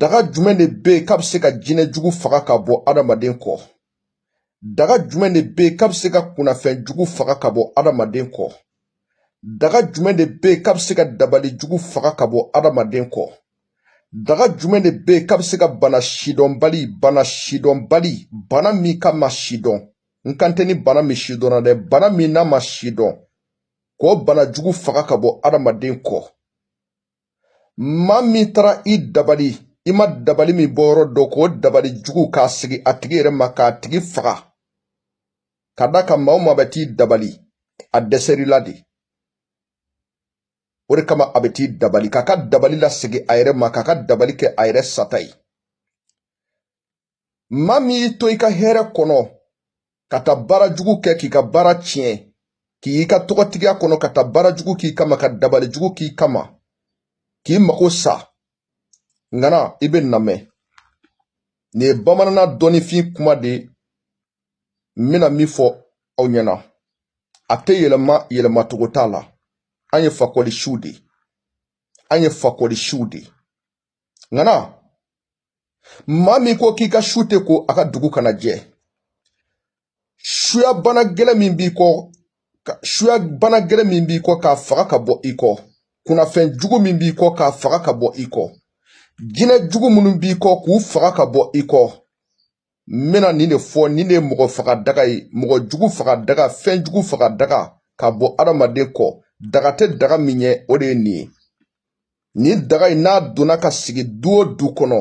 daga jumɛn de bɛ yen k'a bɛ se ka jinɛ jugu faga ka bɔ adamaden kɔ daga jumɛn de bɛ yen k'a bɛ se ka kunnafɛn jugu faga ka bɔ adamaden kɔ daga jumɛn de bɛ yen k'a bɛ se ka dabali jugu faga ka bɔ adamaden kɔ daga jumɛn de bɛ yen k'a bɛ se ka bana sidɔnbali bana sidɔnbali bana min k'a ma sidɔn n kan tɛ ni bana min sidɔnna dɛ bana min n'a ma sidɔn k'o bana jugu faga ka bɔ adamaden kɔ maa min taara i dabali i ma dabali min bɔyɔrɔ dɔn k'o dabali jugu k'a segi a tigi yɛrɛ ma k'a tigi faga ka d'a kan maa o maa bɛ t'i dabali a dɛsɛrila de o de kama a bɛ t'i dabali k'a ka dabali lasegin a yɛrɛ ma k'a ka dabali kɛ a yɛrɛ sata ye maa min y'i to i ka hɛrɛ kɔnɔ ka taa baara jugu kɛ k'i ka baara tiɲɛ k'i ka tɔgɔtigiya kɔnɔ ka taa baara jugu k'i kama ka dabali jugu k'i kama k'i mago sa ŋana i bɛ n namɛn nin ye bamanana dɔnnifin kuma de ye n bɛna min fɔ aw ɲɛna a tɛ yɛlɛma yɛlɛmacogo t'a la an ye fakɔlisiw de ye an ye fakɔlisiw de ye ŋana maa min ko k'i ka su tɛ ko a ka dugu kana jɛ suya bana gɛlɛn min b'i kɔ suya bana gɛlɛn min b'i kɔ k'a faga ka bɔ i kɔ kunnafɛn jugu min b'i kɔ k'a faga ka bɔ i kɔ jinɛ jugu minnu b'i kɔ k'u faga ka bɔ i kɔ n bɛna nin de fɔ nin de ye mɔgɔ faga daga ye mɔgɔ jugu faga daga fɛn jugu faga daga ka bɔ adamaden kɔ daga tɛ daga min ɲɛ o de ye nin ye nin daga in n'a donna ka sigi du o du kɔnɔ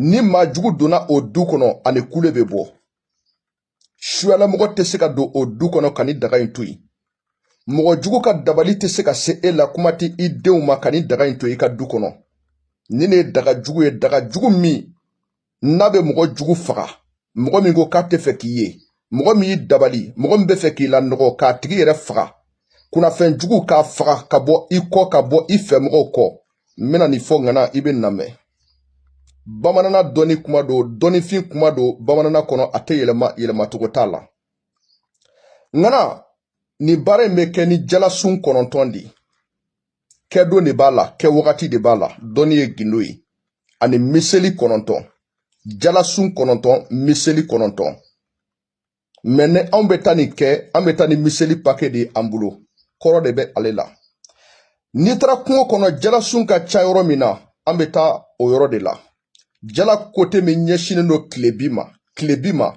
ni maa jugu donna o du kɔnɔ a ni kule bɛ bɔ suyalamɔgɔ tɛ se ka don o du kɔnɔ ka nin daga in to yen mɔgɔ jugu ka dabali tɛ se ka se e la kuma tɛ i denw ma ka nin daga in to i ka du kɔnɔ nin de ye daga jugu ye daga jugu min n'a bɛ mɔgɔ jugu faga mɔgɔ min ko k'a tɛ fɛ k'i ye mɔgɔ min y'i dabali mɔgɔ min bɛ fɛ k'i lanɔgɔ k'a tigi yɛrɛ faga kunnafɛn jugu k'a faga ka bɔ i kɔ ka bɔ i fɛ mɔgɔw kɔ n bɛna nin fɔ ŋana i bɛ n namɛn bamanana dɔnni kuma don dɔnnifin kuma don bamanana kɔnɔ a tɛ yɛlɛma yɛlɛmacogo t'a la ŋana nin baara in bɛ kɛ ni jalasun kɔnɔntɔn de ye kɛdon de b'a la kɛwagati de b'a la dɔnni ye gindo ye ani miseli kɔnɔntɔn jalasun kɔnɔntɔn miseli kɔnɔntɔn mɛ ni anw bɛ taa nin kɛ an bɛ taa ni miseli pake de ye an bolo kɔrɔ de bɛ ale la n'i taara kungo kɔnɔ jalasun ka ca yɔrɔ min na an bɛ taa o yɔrɔ de la jala kote min ɲɛsinnen don tilebin ma tilebin ma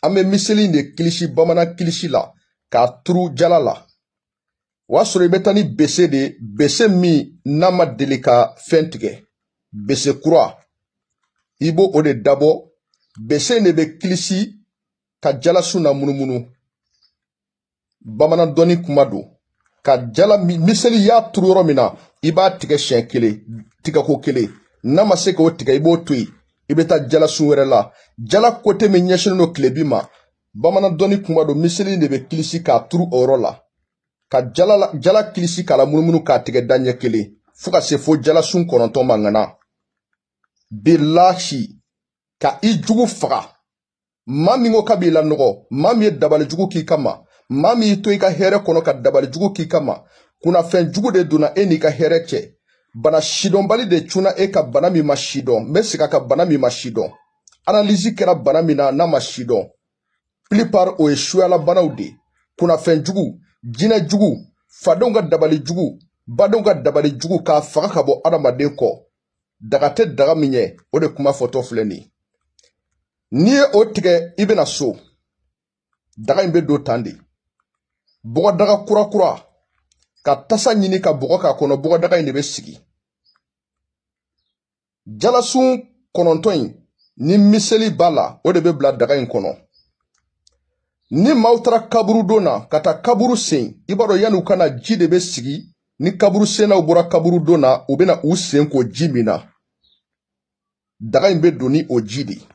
an bɛ miseli de kilisi bamanan kilisi la k'a turu jala la o y'a sɔrɔ i bɛ taa ni bese de ye bese min n'a ma deli ka fɛn tigɛ bese kura i b'o de dabɔ bese in de bɛ kilisi ka jalasun namunumunu bamanan dɔnni kuma don ka jala miseli y'a turu yɔrɔ min na i b'a tigɛ siɲɛ kelen tigɛko kelen n'a ma se k'o tigɛ i b'o to yen i bɛ taa jalasun wɛrɛ la jala kote min ɲɛsinnen don tilebin ma bamanan dɔnni kuma don miseli de bɛ kilisi k'a turu o yɔrɔ la ka jala jala kilisi k'a lamunumunu k'a tigɛ da ɲɛ kelen fo ka se fo jalasun kɔnɔntɔn ma ŋana bilahi ka i jugu faga maa min ko k'a b'i lanɔgɔ maa min ye dabali jugu k'i kama maa min y'i to i ka hɛrɛ kɔnɔ ka dabali jugu k'i kama kunnafɛn jugu de donna e n'i ka hɛrɛ cɛ bana sidɔnbali de cunna e kan bana min ma sidɔn n bɛ segin a kan bana min ma sidɔn analyse kɛra bana min na n'a ma sidɔn plupart o ye suyala banaw de ye kunnafɛn jugu jinɛ jugu fadenw ka dabali jugu badenw ka dabali jugu k'a faga ka bɔ adamaden kɔ daga tɛ daga min ɲɛ o de kuma fɔtɔ filɛ nin ye n'i ye o tigɛ i bɛ na so daga in bɛ don tan de bɔgɔdaga kurakura ka tasa ɲini ka bɔgɔ k'a kɔnɔ bɔgɔdaga in de bɛ sigi jalasun kɔnɔntɔn in ni miseli b'a la o de bɛ bila daga in kɔnɔ ni maaw taara kaburu don na ka taa kaburu sen i b'a dɔn yanni u ka na ji de bɛ sigi ni kaburu sennaw bɔra kaburu don na u bɛna u sen ko ji min na daga in bɛ don ni o ji de ye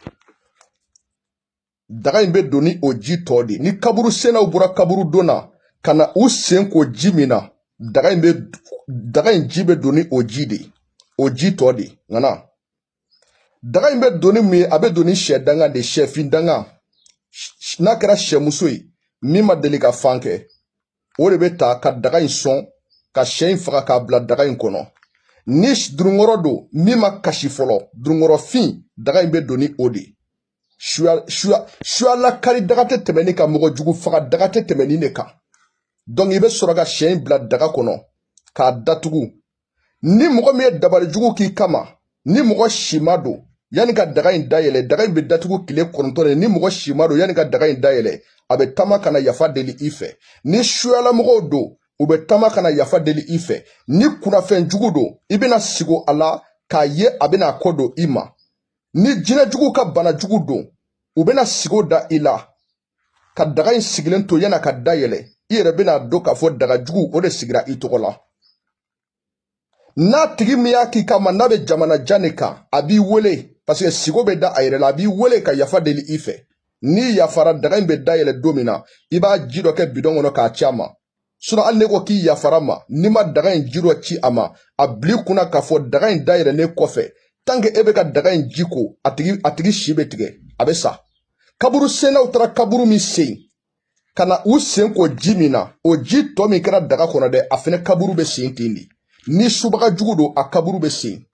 daga in bɛ don ni o ji tɔ de ni kaburu sennaw bɔra kaburu don na ka na u sen ko ji min na daga in bɛ daga in ji bɛ don ni o ji de o ji tɔ de ŋana daga in bɛ don ni mun ye a bɛ don ni sɛ danga de sɛfin danga n'a kɛra sɛmuso ye min ma deli ka fan kɛ o de bɛ ta ka daga in sɔn ka sɛ in faga k'a bila daga in kɔnɔ ni dununkɔrɔ don min ma kasi fɔlɔ dununkɔrɔfin daga in bɛ don ni o de ye suyala kari daga tɛ tɛmɛ nin kan mɔgɔ jugu faga daga tɛ tɛmɛ nin de kan donc i bɛ sɔrɔ ka sɛ in bila daga kɔnɔ k'a datugu ni mɔgɔ min ye dabali jugu k'i kama ni mɔgɔ si ma don yanni ka daga in dayɛlɛ daga in bɛ datugu tile kɔnɔntɔn de ni mɔgɔ si ma don yanni ka daga in dayɛlɛ a bɛ taama ka na yafa deli i fɛ ni suyala mɔgɔw don u bɛ taama ka na yafa deli i fɛ ni kunnafɛn jugu don i bɛna sigo a la k'a ye a bɛna a kɔ don i ma ni jinɛ juguw ka bana jugu don u bɛna sigo da i la ka daga in sigilen to yann'a ka dayɛlɛ i yɛrɛ bɛn'a dɔn k'a fɔ daga jugu o de sigira i tɔgɔ la n'a tigi min y'a k'i kama n'a bɛ jamana jan de kan a b'i wele paseke sigo bɛ da a yɛrɛ la a b'i wele ka yafa deli i fɛ n'i yafara daga in bɛ dayɛlɛ don min na i b'a ji dɔ kɛ bidɔn kɔnɔ k'a ci a ma sinɔn hali n'e ko k'i yafar'a ma n'i ma daga in ji dɔ ci a ma a bil'i kun na k'a fɔ daga in dayɛlɛlen kɔfɛ tant que e bɛ ka daga in ji ko a tigi a tigi si bɛ tigɛ a bɛ sa kaburu sennaw taara kaburu min sen ka na u sen ko ji min na o ji tɔ min kɛra daga kɔnɔ dɛ a fɛnɛ kaburu bɛ sen ten de ni subaga jugu don a kaburu bɛ sen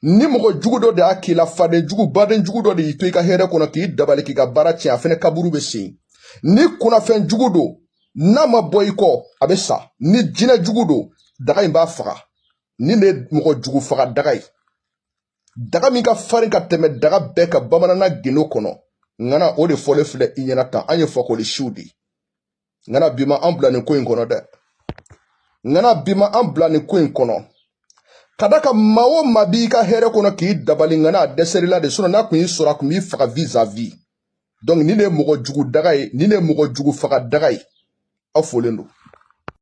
ni mɔgɔ jugu dɔ de y'a k'i la faden jugu baden jugu dɔ de y'i to i ka hɛrɛ kɔnɔ k'i dabali k'i ka baara tiɲɛ a fɛnɛ kaburu bɛ sen ni kunnafɛn jugu don n'a ma bɔ i kɔ a bɛ sa ni jinɛ jugu don daga in b'a faga nin de ye mɔgɔ jugu faga daga ye daga min ka farin ka tɛmɛ daga bɛɛ kan bamanana gindo kɔnɔ ŋana o de fɔlen filɛ i ɲɛna tan an ye fakoli siw de ye ŋana bi ma an bila nin ko in kɔnɔ dɛ ŋana bi ma an bila nin ko in kɔnɔ ka d'a kan maa o maa b'i ka hɛrɛ kɔnɔ k'i dabali ŋana a dɛsɛr'i la de sinɔn n'a kun y'i sɔrɔ a kun b'i faga vis a vis donc nin de ye mɔgɔ jugu daga ye nin de ye mɔgɔ jugu faga daga ye aw folen don